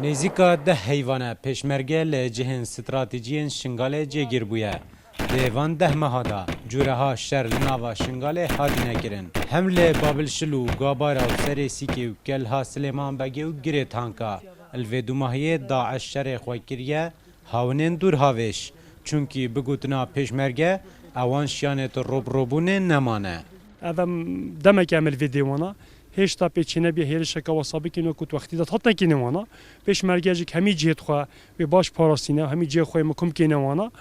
Nêzîka deh heyvane pêşmerge li cihên stratejiyên Şingalê cêgîr bûye. Di van deh meha de cureha şer li nava Şingalê hatine kirin. Hem li Babilşil û Gabayra û Serê Sîkê û Kelha Silêman Begê û Girê Tanka li vê dûmahiyê DAIŞ şerê xwe kiriye hawinên dûrhavêş. Çunkî bi gotina pêşmerge ewan şiyanê tu robirobûnê nemane. Ev em demeke em li vê dê wan a. Hêşta pê çênebiye hêrişeke wisa bikin wekû di wextî de dihat nekîne wan a. Pêşmerge jî hemî cihê di xwe wê baş parastîne, hemî cihê xwe yê mikum kêne wan a.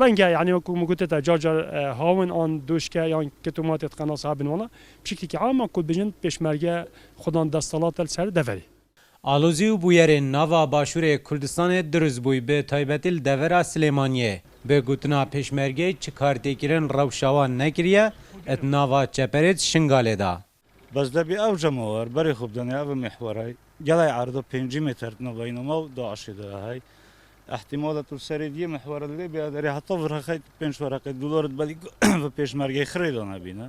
Renge yanî wekû min gote te car car hawin an doşke yan keto matê di qenasê habin wan a. Bi şeklekî am em ku dibêjin pêşmerge xwedan desthilat e li ser deverê. Alozî û bûyerên nava Başûrê Kurdistanê dirûz bûy bi taybetî li devera Silêmaniyê. Bi gotina Pêşmergeyê çi kar tê kirin rewşa wan nekiriye e di nava çeperê di Şingalê da. Bes debî ew cemawar berê xwe bidenê ev mîhwaray. Gelay erdo pêncî mêter di nava Înoma û DAIŞ'ê de ye hay. Îhtîmal e tu serê diyê mîhwara lê bîya derê heta virxexey tu pênc wereqê dûlarit belî vê Pêşmergeyê xirê danebîne.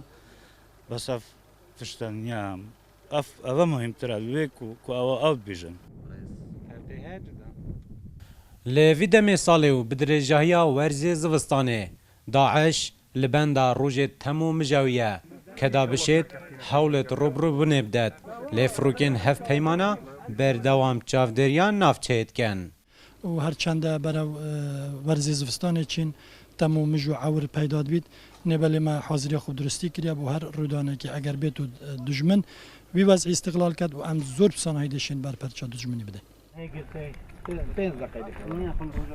Bes ev tişte niye em Ev ev e muhîmtir e li wê ku ku ew ew dibêjin. Li vî demê salê û bi dirêjahiya werzê zivistanê, DAIŞ li benda rojê tem û mijawî ye. Ke da bişêt, hewlêt rûbirûbûnê bidet. Lê firokên hevpeymana berdewam çavdêriya navçeyê dikin. û her çende berev werzê zivistanê çîn tem û mij û ewr peyda dibît. Nê belê me haziriya xwe bi duristî kiriye bo her rûdanekê eger bê to dijmin wî wezî îstiqlal ket û em zor bi sanahî dê şên ber perça dijminî bidin.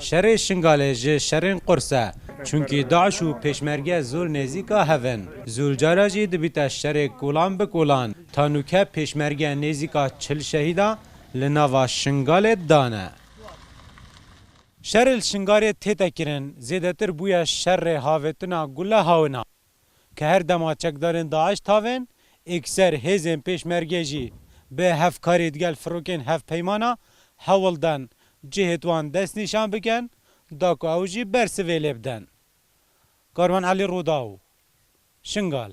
Şerê Şingalê ji şerên qurs e, çunkî DAIŞ û pêşmerge zol nêzîka hev in. Zol cara jî dibîte şerê kolan bi kolan. Tanûke pêşmerge nêzîka çil şehîda li nava Şingalê dane. Şerê li Şingalê tête kirin zêdetir bûye şerê havêtina gule hawina ke her dema çekdarên DAIŞ tavên ekser hêzên pêşmerge jî bi hevkarî digel firokên hevpeymana hewl dan cihê wan dest nîşan bikin da ku ew jî bersivê lê bidin. Karvan Elî Rûdaw, Şingal.